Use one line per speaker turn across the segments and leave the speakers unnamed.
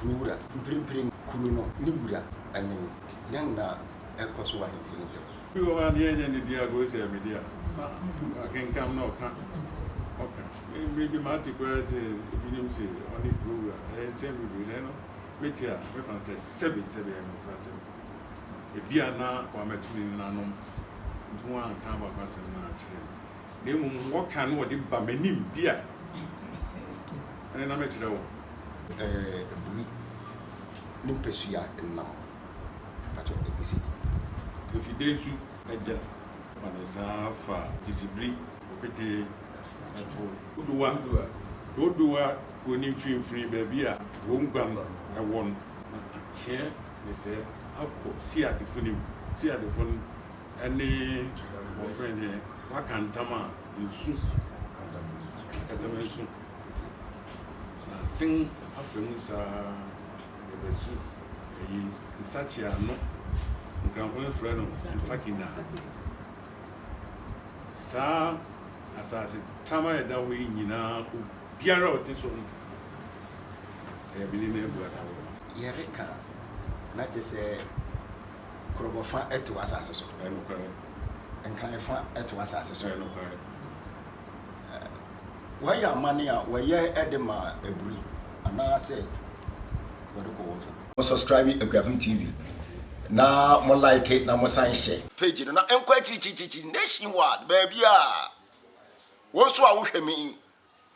Kuro wura, mprempren kuro no ne wura ne me. Dɛn na ɛrekɔ so wɔ ahemfo no ntam? Ebi wɔ hɔ a, nea ɛnyɛ
ne dea agorɔ sɛ me dea. Makenkan na ɔka, ɔka. Mmere bi mate koraa sɛ ebinom se ɔne kuro wura. Ɛyɛ nsɛm bebree, na ɛno mete a, mɛfa no sɛ sɛbe, sɛbe ɛyɛ mmofrasɛm. Ebia na Kwame Atuli nenanom nti wɔanka abakɔsɛm no ankyerɛ me. na mmom wɔka na wɔde ba m'anim di a, ɛnde na mɛkyerɛ wɔn. Aburi
ne mpasua nam mpakyɛw ɛpese
efide nsu. Agya ma ne nsa fa kisibiri ɔpete ɛto. Dodowa dodowa kɔ ne mfinfini baabi a wɔn guam ɛwɔ no na ateɛ ne sɛ akɔ siadefo no mu siadefo no. Ɛne wɔfrɛ no deɛ waka ntam a nsu akatama nsu na sen afa mu saa ɛbɛsu ɛyi nsakye ano nkranfo no frɛ no nsakina saa asase tam a ɛda hɔ yi nyinaa obiara a ɔte so no ɛyɛ bene no abu adaworoma yɛreka
na kyɛ sɛ Kurobo fa te w'asase so. Ɛyɛ nokware. Nkran fa te w'asase so. Ɛyɛ nokware. Wɔyɛ amanne a wɔyɛ de ma aburi anaasɛ wɔde kɔ wɔn fam. Mo subscribe Akuapem TV na mo like na mo san hyɛ. Page no na ɛnkɔ akyirikyirikyirikyiri nation wide baabiara. Wo nso a wohwɛ me yi,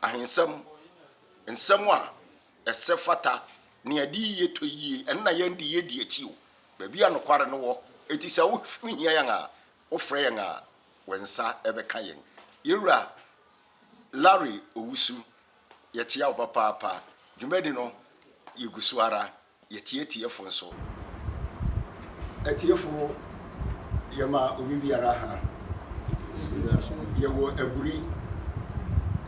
ahensɛm, nsɛm a ɛsɛ fata, nea ɛde yiye tɔ yiye, ɛno na yɛn de yedi akyi o. Baabi a nokware no wɔ. Enti sɛ wohia yɛn a, wofrɛ yɛn a, wo nsa bɛka yɛn. Yɛn Wura Larry Owusu, yɛkyea wo papaapa. Dwumadi no, yɛgu so ara. Yɛtie atiefo nso. Atiefo, yɛma obi biara ha. Yɛwɔ aburi.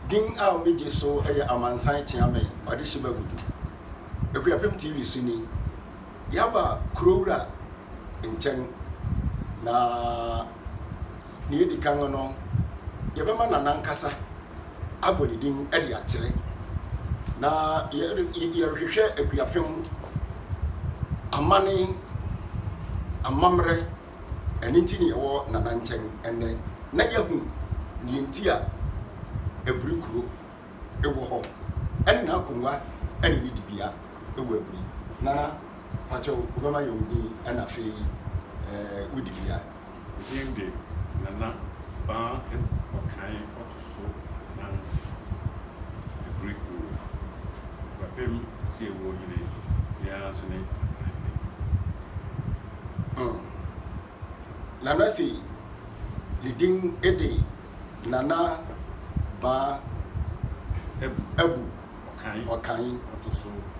Din a wɔgye so yɛ Amansan Kyeame Ɔdehye Bagudu. Akuapem TV so ni. yɛaba kurowura nkyɛn, na nea edi kan no, yɛbɛma no n'ankasa abɔ ne din de akyerɛ, na yɛrehwehwɛ akuapem, amanne, amammerɛ, ɛno nti na yɛwɔ Nana nkyɛn nnɛ, na yɛahu nea enti a abiri kuro. wɔ hɔ ɛne n'akongua ɛne ne dibea wɔ aburi. Nana pakyɛw wo bɛma yɛn wo din ɛna afei ɛɛ wo dibea. Me din
de Nana Baa Ɔkan ɔto so anan Aburi Owura Akurapem Asiewuo Hene biara so ne Akanhene. Nana sei ne din de. Nana baa Abu Ɔkan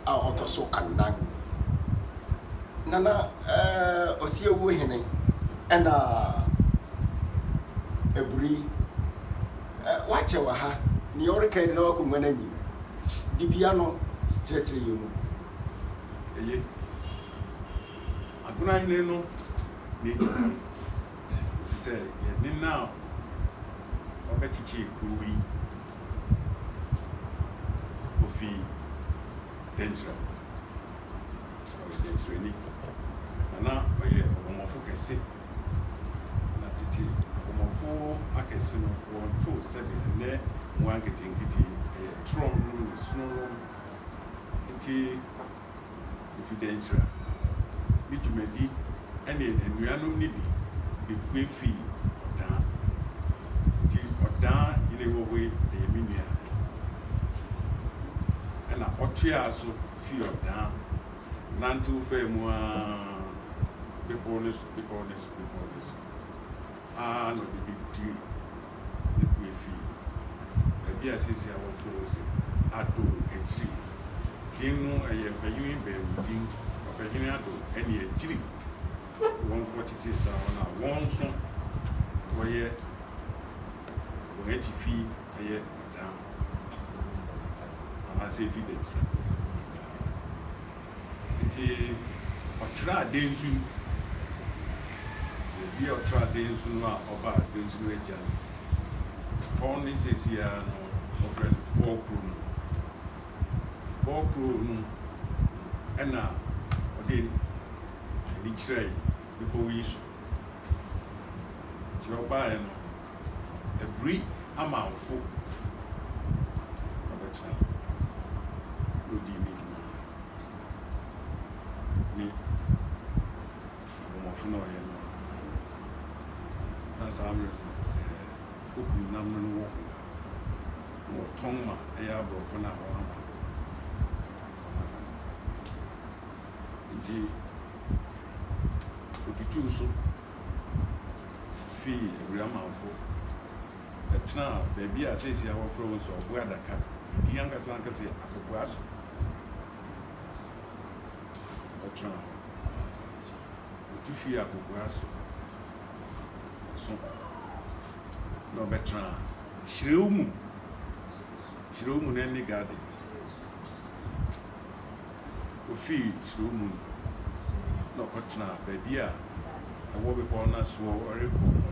a ɔtɔ so anan. Nana Ɔsiawuo hene ɛna Aburi. Wakyɛ wɔ ha, nea ɔreka yi de na wakonnwa no anyim. Dibea no kyerɛkyerɛ yɛn mu. Eye. Agona hene no n'edin te sɛ yɛne no a ɔbɛkyekyee kurow yi ofi dɛnkyira mu. Ɔyɛ dɛnkyirani, na na ɔyɛ ɔbɔmmɔfo kɛse. Na tete abɔmmɔfo akɛse no, wɔntoo sɛbe ɛnnɛ mmoa nketenkete, ɛyɛ torɔm ne sononom. Enti Kofi Denkyira ne dwumadi ne anuanom no bi bepue fii Ɔdaa. Nti Ɔdaa yere wɔ hɔ yi yɛ me nua. Ɛna ɔtoaa so fii Ɔdaa nantew faa mu ara bepɔw no so, bepɔw no so, bepɔw no so. ara na ɔde bedui ne pue fii baabi a seesei a wɔfrɛ hɔ se Addo Akyiri. Din no ɛyɛ mpanyini baanu din, Ɔpɛhene Addo ɛne Akyiri. Wɔn nso wɔtetee saa hɔ na wɔn nso wɔyɛ wɔn akyi fi ɛyɛ ɔdan anaasɛ efi bɛn so saa. Ntsi ɔtraa dansu no, beebi a ɔtraa dansu no a ɔbaa dansu no egya no, hɔ ne seseiara no wɔfrɛ no Bɔɔ Kurow no. Ntsi Bɔɔ Kurow no na ɔde n'enyi kyerɛe bepɔw yi so. Ntsi ɔbae no Abiri amanfo na ɔbɛtenae na odii ne dwuma no. Ne abɔmmɔfo na ɔyɛ no ara. Na saa mmere no, sɛ okum nam no no wɔ ho a, na wɔtɔn ma ɛyɛ aborɔfo no a wɔama no. Nti, otutuu so. fii Aguamanfo bɛtenaa baabi a seesei wɔfrɛ hɔ sɛ Ɔbo Adaka. Ne din ankasa ankasa yɛ Akokoaso. Ɔtenaa hɔ. Otu fii Akokoaso so na ɔbɛtenaa Kyerɛw mu. Kyerɛw mu no ne Gardens. ofii suro mu no, na ɔkɔtenaa baabi a ɛwɔ bepɔw no asoɔ rekɔ no,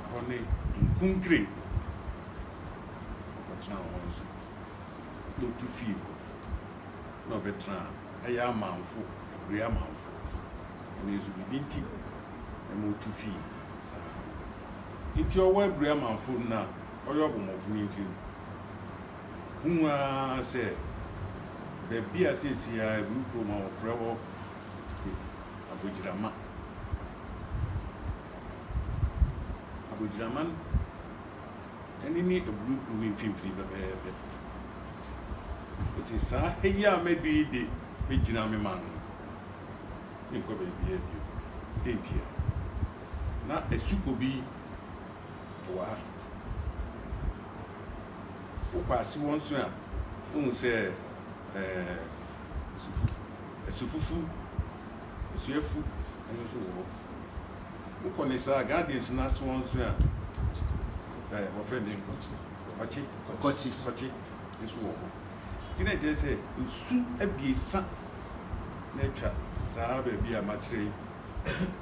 ɛhɔ ne nkunkire, ɔkɔtenaa hɔ nso, na ɔtu fii hɔ, na ɔbɛtenaa ɛyɛ amanfo, abire amanfo, ɛno nso biribi nti na ma ɔtu fii saa hɔ no. Nti ɔwɔ abire amanfo no a ɔyɛ ɔbɔmmɔfo no nti no, Hu ara sɛ baabi a seesei ara Awiwu Kurom a wɔfrɛ hɔ te Abogyirama. Abogyirama ani ne Awiwu Kurom mfimfini pɛpɛɛpɛ. Ose, Saa ha yi a madu yi de, mɛgyina me man no. Menkɔ baabiara bio. Dɛn ntia? Na asukɔ bi wɔ ha. Wokɔ ase wɔ nso a, wohu sɛ ɛɛ asufufu, asuafu ɛno nso wɔ hɔ. Wokɔ ne saa gardens no ase wɔ nso a, ɛɛ wɔfrɛ ne nkɔkye, kɔkye, kɔkye, kɔkye nso wɔ hɔ. Nti na ɛkyerɛ sɛ nsu abiesa na atwa saa baabi a makyerɛ yi.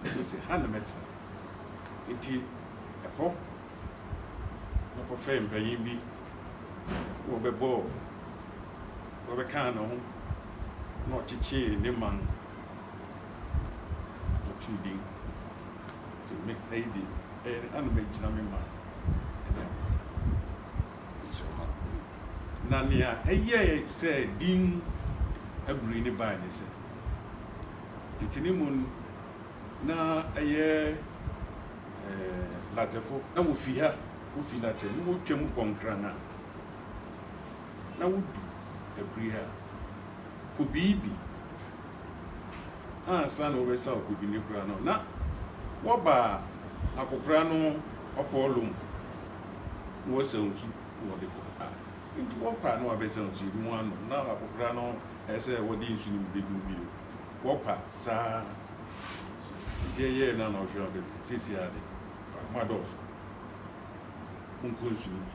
Nti sɛ ha na mɛtena. Enti ɛhɔ na ɔkɔfrɛɛ mpanyin bi na wɔbɛbɔɔ, wɔbɛkaa ne ho na ɔkyekyee ne man na ɔtoo din. Nti me ha yi de, ɛyɛ ne ha na megyina me man ne abusua man de kyerɛ ma wo yi. Na nea ɛyɛe sɛ din abiri no bae ne sɛ, tete no mu no, Na ɛyɛ ɛɛ Natɛfo na wofi ha, wofi Natɛ na wotwam kɔ Nkran a, na wodu Abiri a, Kobii bi ansa na wɔbɛsaw Kobi ne kura no, na wɔba Akokora no ɔpɔɔlo mu na wɔsaw nsu na wɔde kɔ. Ah, nti wɔkɔ a na wɔabɛsaw nsu yi na wɔanom, na Akokora no ɛsɛ sɛ wɔde nsu no bi begu mu bio. Wɔpa saa nti ɛyɛɛ na na ɔhwɛ no kɛ siesie ara de akoma dɔɔso wonkɔ nsuo bi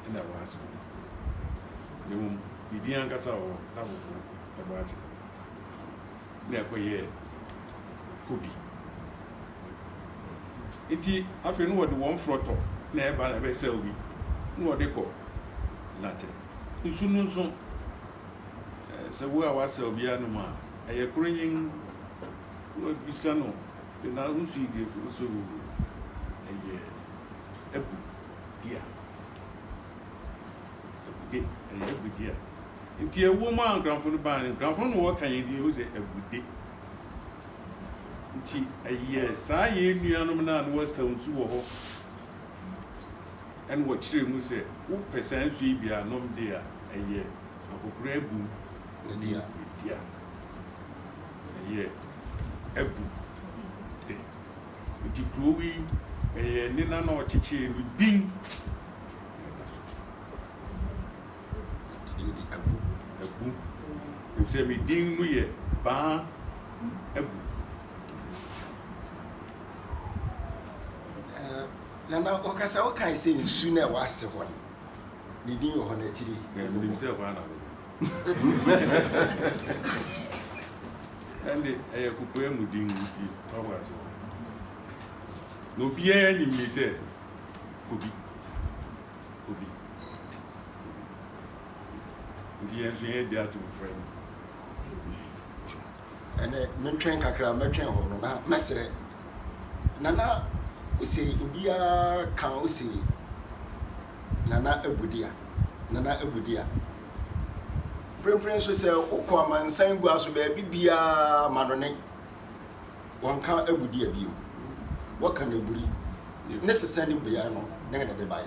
ɛna wɔn asɛm no na mmom ne din ankasa wɔ hɔ na foforɔ ɛbɔ akyerɛ na ɛkɔ yɛɛ kobi nti afei no wɔde wɔn forɔtɔ na ɛba na ɛbɛsɛw bi na wɔde kɔ natɛ nsu no nso sɛ wo a w'asɛ obi anom a ɛyɛ koro nyin wabisa no sɛ na nsu yi deɛ fo so ɛyɛ abu di a abude ɛyɛ abu di a nti ɛwɔ mu a nkranfo no baa nkranfo no wɔ kan yɛn din wo sɛ abude nti ɛyɛ saa yɛn nuanom no a na wɔasa nsu wɔ hɔ ɛna wɔkyerɛ mu sɛ wopɛ saa nsu yi bi anom deɛ a ɛyɛ akokora abun ne dua. Ɛyɛ abu de. Nti kuro yi ɛyɛ ne nana ɔkyekyee no din na ɛda so. Ɛdin de abu. Abu. Ɛfisɛ me din no yɛ baa abu.
Nana, ɔkasa wokae sɛ nsu na ɛwɔ ase hɔ no. Ne din wɔ hɔ no akyiri. Nim sɛ hɔ ana bɛbɔ.
Ɛnde ɛyɛ kokoa mu din nti tɔbo ase hɔ. Na obiara nim yi sɛ kobi. Kobi. Kobi. Nti yɛn nso yɛn agye ato frɛ no kobi.
Ɛnɛ, mentwɛn kakra, mɛtwɛn hɔ no, na mɛsrɛ. Nana ose obiara ka ose Nana Abudia, Nana Abudia. Mprempren nso sɛ wokɔ amansan gua so baabi biara ma no ne wɔnka Abudia bio. Wɔka no aburi ne sesa ne bea no na ɛde bae.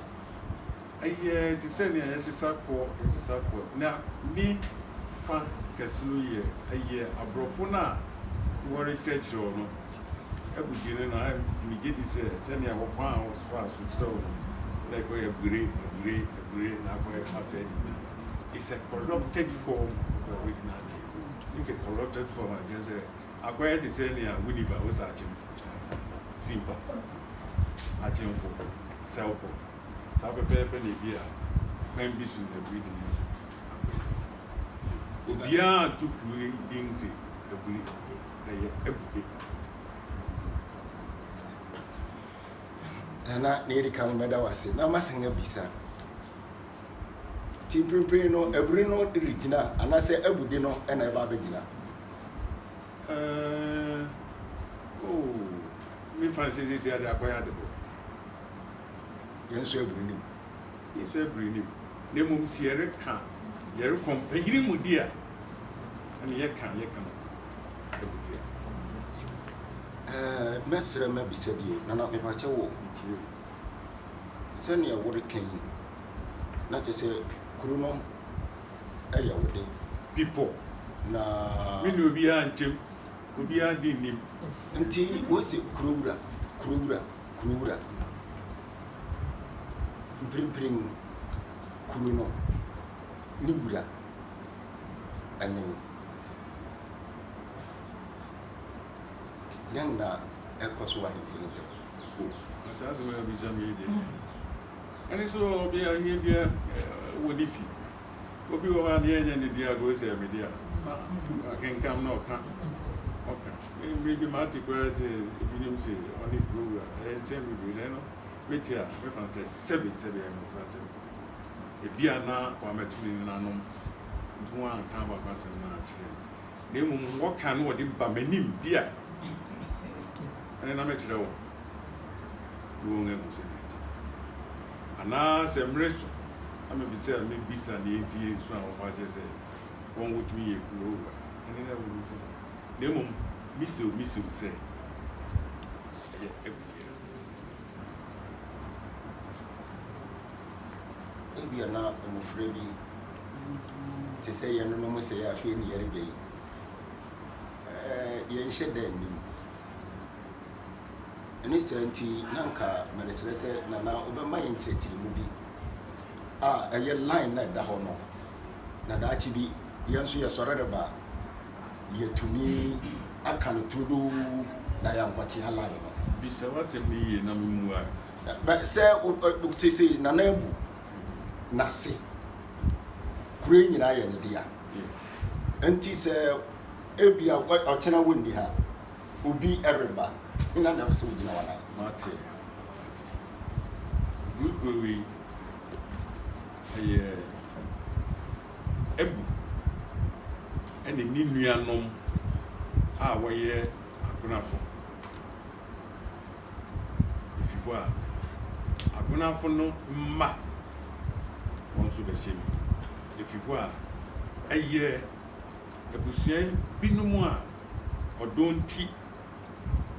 Ɛyɛ
te sɛ nea yɛsesa kɔ, yɛsesa kɔ, na ne fã kɛse no yɛ, ɛyɛ aborɔfo no a wɔrekyerɛkyerɛ wo no abodin no, na migye di sɛ sɛnea wɔkwan a wɔfaa so kyerɛw no no, na ɛkɔyɛ abugire, abugire, abugire, na akɔ ɛfa saa nyinaa. It's a corrupted form of the original name. Make a corrupted form a, kyerɛ sɛ akɔyɛ te sɛ nea wunni ba, wo sɛ akyemfo, simpa, akyemfo, sɛwfo. Saa pɛpɛɛpɛ na ebia kwan bi so na bere di mu nso abere. Obiara to kuro yi din se Aburi, ɛyɛ Abupe.
Nana na yɛde ka no mɛda wase na masan abisa ti mprempren no aburi no regyina anaasɛ abude no na ɛba abɛgyina ɛɛ
oh me fan sɛ sisi ade akɔyɛ adebɔ
yɛn nso abiri nim. Yɛn nso abiri nim. Na mmom si
yɛreka yɛrekɔ mpanyini mu di a, ɛna yɛka yɛka no ɛbu di a.
Ɛɛ mɛsrɛ mɛbisa bi o, nana mepakyɛ wɔ metie o. Sɛnea woreka yi, na kyerɛ sɛ kuro no ɛyɛ wo de. Bepɔ.
Na.
Me ne obiara
nkyɛm, obiara de nnim. Nti
wɔsi kurowura, kurowura. kuro wura. Mprempren kuro no ne wura ne me. Dɛn na ɛkɔ so wɔ ahemfo no ntam? O, na saa
asɛm a wobisa me yi deɛ, ɛne sɛ ɔbea aheɛ bia wɔ ne fi. Obi wɔ hɔ a ne ɛnyɛ ne dea, agorɔ sɛ ɛyɛ me dea. Na akenkan na ɔka, ɔka. Bere bi mate koraa sɛ ebinom se ɔne kurowa. Ɛyɛ nsɛm bebree, na ɛno mete a, mɛfa no sɛ sɛbe sɛbe ɛyɛ mmofrasɛm. Ebia na Kwame to ne nananom nti wɔanka abakɔ asɛm no ankyerɛ me, na mmom wɔka na wɔde ba m'anim di a, ɛnde na mɛkyerɛ wɔn na wɔahu sɛnea ɛte. Anaasɛ mmere so na mebisa a mebisa nea enti nso a wɔbɔ akyerɛ sɛ wɔn wotumi yɛ kurowa, ɛnde na wɔahu sɛ Na mmom mise wo, mise wo sɛ, ɛyɛ
Abner. Ebia na mmofra bi te sɛ yɛnonom sɛ yɛ afei ne yɛreba yi. Yɛnhyɛ da nnim. Ɛne saa nti, na nka meresrɛ sɛ Nana wobɛma yɛn nkyerɛkyerɛmu bi a ɛyɛ line na ɛda hɔ no. na daakye bi yɛn nso yɛsɔre reba a, yɛatumi aka no turodoo na yɛankɔtea line no. Bisa w'asɛm
no yie na memmua. Sɛ
sese Nana Abu n'ase, kuro yi nyinaa yɛ ne dea. Nti sɛ ebia ɔkyena wonni ha, obi reba, hena na ɛwɔ sɛ ogyina w'anan? Mate.
Good way. Ɛyɛ Abu ne ne nuanom a wɔyɛ abenafo. Efi hɔ a, abenafo no mma wɔn nso bɛhyɛ mu. Efi hɔ a, ɛyɛ abusua binom a ɔdɔ nti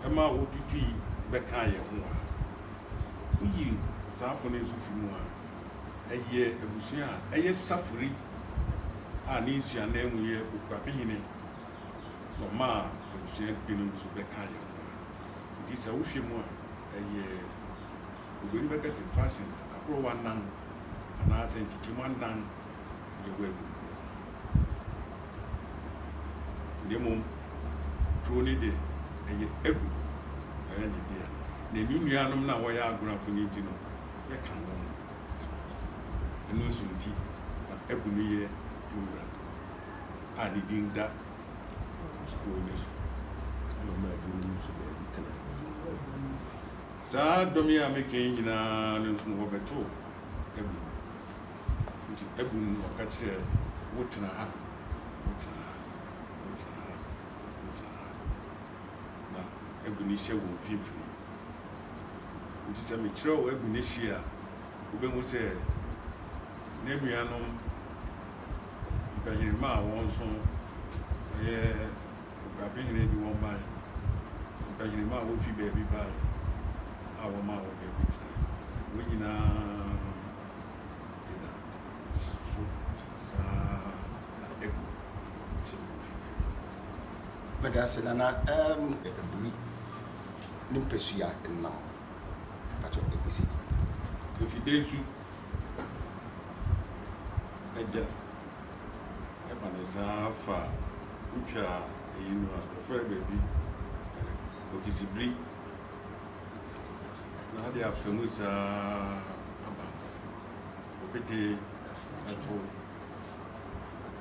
ɛma wotutui bɛkaa yɛn ho a, woyi saafo no nso fi mu a, ɛyɛ abusua a ɛyɛ safori a ne nsuanan mu yɛ okuapehene wɔmaa abusua binom nso bɛka yɛn ho nti sɛ wohwɛ mu a ɛyɛ obɛni bɛka sɛ fashions ahorow anan anaasɛ nkyekyɛmu anan yɛwɔ abiri kuro no na mmom kuro no de ɛyɛ agu ɛyɛ ne deɛ na ne nuanom no a wɔyɛ agorafo no nti no yɛka no no ka ho. Ɛno nso nti na abu no yɛ program a ne din da kurow no so. Ɛma
ebinom nso baabi tena. Saa
dɔm yi a meka yi nyinaa no nso no wɔbɛtoo abu no. Nti abu no na ɔka kyerɛ wotena ha, wotena ha, wotena ha, wotena ha. ma agu ne hye wɔ mfimfini. Enti sɛ mekyerɛw agu ne hye a, wubehu sɛ n'anuanom mpahirima a wɔn nso ɛyɛ aguabehene de wɔn bae, mpahirima a wofi baabi bae a wɔmaa wɔn baabi tenae. Wɔn nyinaa Meda
ase nana ɛɛm aburi ne mpasua nnam patɔ egusi efide
nsu ɛgya ɛba ne saa fa wotwa eyi no a ɛfrɛ baabi okisibiri na ade afa mu saa aba opete ɛto.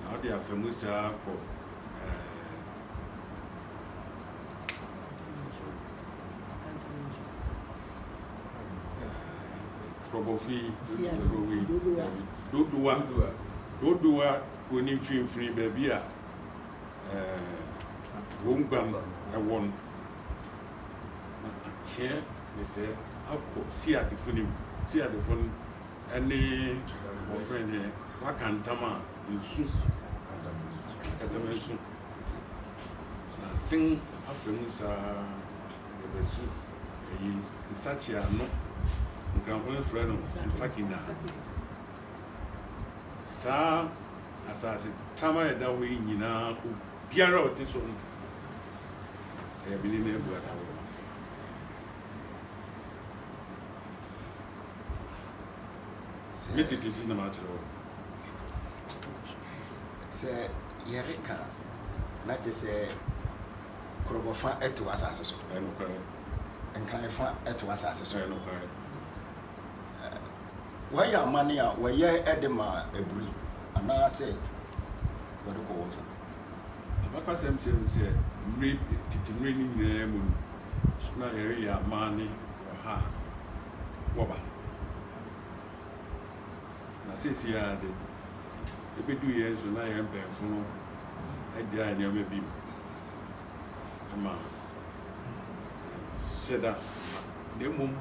na ɔde afa mu saa kɔ kurɔbɔfi kurowi dodowa dodowa kuro ne mfimfini baabi a wɔn guam ɛwɔ no na akyɛ ne sɛ akɔ siadefo no mu siadefo no Ɛne wɔfrɛ no deɛ waka ntam a nsu akatama nsu na sen afa mu saa ɛbɛsu ɛyi nsakye ano nkranfo no frɛ no nsakina saa asase tam a ɛda hɔ yi nyinaa obiara a ɔte so no ɛyɛ bene no abuada wɔ Me tete si na makyerɛ wo.
Sɛ yɛreka na kyerɛ sɛ korɔbɔfa ɛte w'asase so. Ɛnokware.
Nkranfa
ɛte w'asase so. Ɛnokware. Wɔyɛ amane a wɔyɛ ɛde ma aburi anaasɛ wɔde kɔ wɔn fam. Abakɔsɛm
kyerɛ mu sɛ mmere tete mmere no nyinaa mu no na yɛreyɛ amane wɔ ha a. wɔba. Na seesei ara de, ebedu yɛn so na yɛn mpanyimfo no agyae nneɛma bi mu ama yɛnhyɛ da mma. Na mmom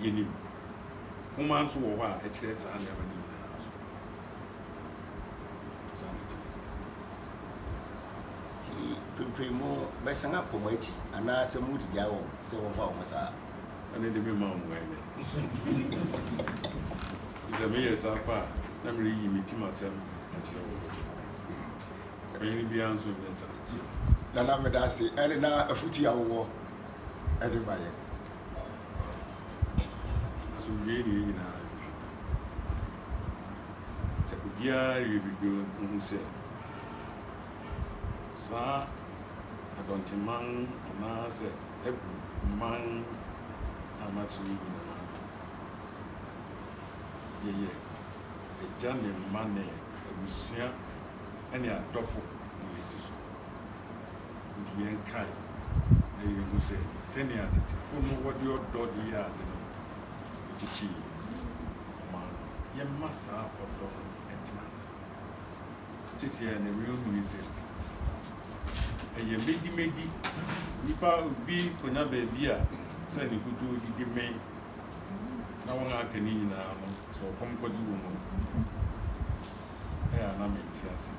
yenim nhoma nso wɔ hɔ a ɛkyerɛ saa nneɛma no nyinaa nso. Saa na ɛte. Nti,
mprempren mobɛsan akɔ mo akyi anaasɛ moregyae wɔn sɛ wɔmfa wɔn saa? ɛno de mema
wo mmuae nnɛ. Ɛfiri sɛ meyɛ saa pɛ a, na mereyi me tim asɛm akyerɛ wo. Ɔpanyin biara nso nyɛ saa. Nana meda
ase ɛne na afutu a wowɔ ɛde ma yɛn.
Asomdwoe ne yɛn nyinaa nhwɛ. Sɛ obiara yɛ biribi nhu sɛ saa adɔnteman no anaasɛ abu man a makyerɛ yi nyinaa no, yɛyɛ agya ne mma ne abusua ne adɔfo ne yɛn ti so. Nti yɛnkae na yɛnhu sɛ sɛnea tetefo no wɔde ɔdɔ de yɛ ade no kyekyee ɔman no. Yɛmma saa ɔdɔ no ntena ase. Seseiara na wirehu no sɛ ɛyɛ medimedi. Nnipa bi konya baabi a sɛ ne kutoo didi mee, na wɔn a aka no nyinaa no, sɛ ɔkɔm kɔgye wɔn mu a, ɛyɛ a na mente ase.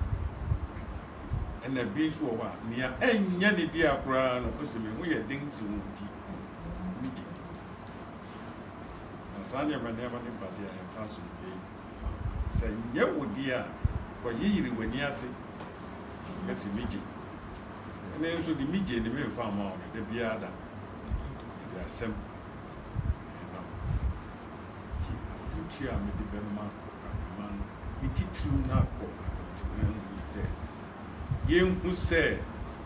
Ɛna bi nso wɔ hɔ a, nea ɛnyɛ ne dea koraa no, ɔsɛ me ho yɛ den si wɔn ti. Migye. Na saa nneɛma nneɛma no ba deɛ ɛmfa so. Fa, sɛ ɛnyɛ wo deɛ a, kɔyeyere w'ani ase ka se megye. Ene nso de megye ne memfa mma wo no da biara da mede asem rema wo. Enti afotuo a mede bɛma Kwabena no ne titiriw no akɔ adɔntemena mu ne sɛ, yenhu sɛ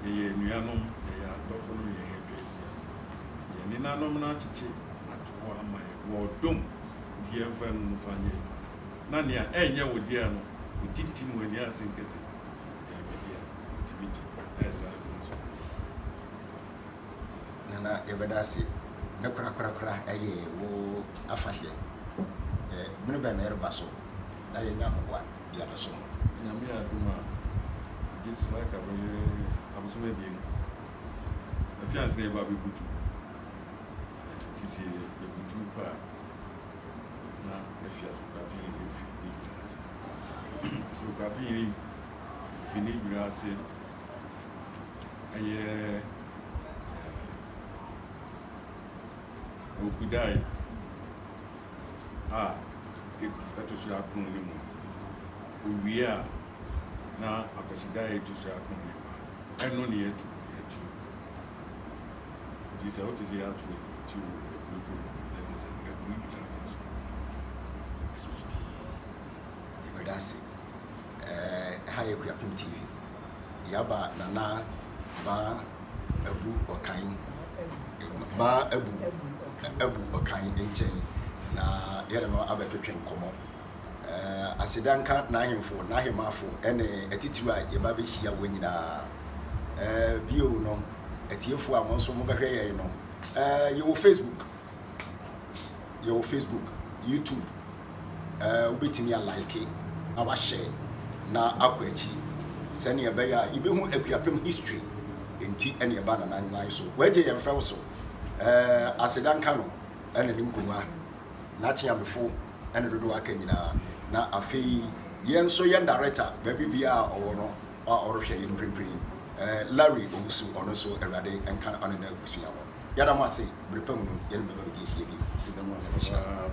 yɛyɛ anuanom, yɛyɛ adɔfo nom yɛn a atwa ahyia no. Yɛn nenanom no akyekye ato hɔ ama yɛn wɔ ɔdɔ mu. Nti yɛmfa ɛno no mfa nyɛ adwuma, na nea ɛnyɛ wo dea no, kotintim w'ani ase nka se, 'Ɛyɛ me dea, ɛme gye, na yɛ saa mfa nsi wo dua no ase.
Na na yɛbɛda ase. Ne korakorakora ɛyɛ wo afahyeɛ. Ɛ, bere bɛn na ɛreba so na yɛanya ahoboa de abɛsom wo? Nyame yɛ adom
a, megye di sɛ aka bɛyɛ abosom abien, afi ansa na yɛreba abɛbutu. Enti sɛ yɛbutuw kɔ a, na afi asɔfopanyin no fi ne dwira ase. Asɔfopanyin no fi ne dwira ase ɛyɛ Okudai a ɛto so akron no mu. Owie a, na Akwasidae a ɛto so akron no ba. Ɛno na yɛtu yɛn tuo. Nti sɛ wote sɛ yɛato agyinakyi wɔ akuo kɔ mu a, na kyerɛ sɛ akuo nyinaa no nso ɛbɛsu.
Yɛbɛda ase. Eh, ha yɛ Kuapem TV. Yaba Nana Ba Abu Ɔkan, Ba Abu, Abu Ɔkan nkyɛn na yɛne no abɛtwetwe nkɔmmɔ. Aseda nka n'ahemfo, n'ahemmafo, ne atitiriw a yɛba behyia wɔn nyinaa. Bio no, atiefo a mo nso mobɛhwɛ yɛn no, yɛwɔ Facebook, yɛwɔ Facebook, YouTube, wobɛtumi alike na wahyɛ na akɔ akyi sɛnea ɛbɛyɛ a yɛbɛhu Akuapem history nti ɛne ɛba na nannan so. Wɔagye yɛn fɛw so. Aseda nka no ɛne ne nkongua, n'ateamefo. ɛne dodoɔ aka nyinaa na afei yɛn nso yɛn director baabi biara a ɔwɔ no a ɔrehwɛ yɛn mprempren eh, Larry Owusu ɔno nso awurade nka ɔne no abusua hɔ yɛda mo ase bere pa mu no yɛne bɛba bɛdi ahyia bi Nhyira.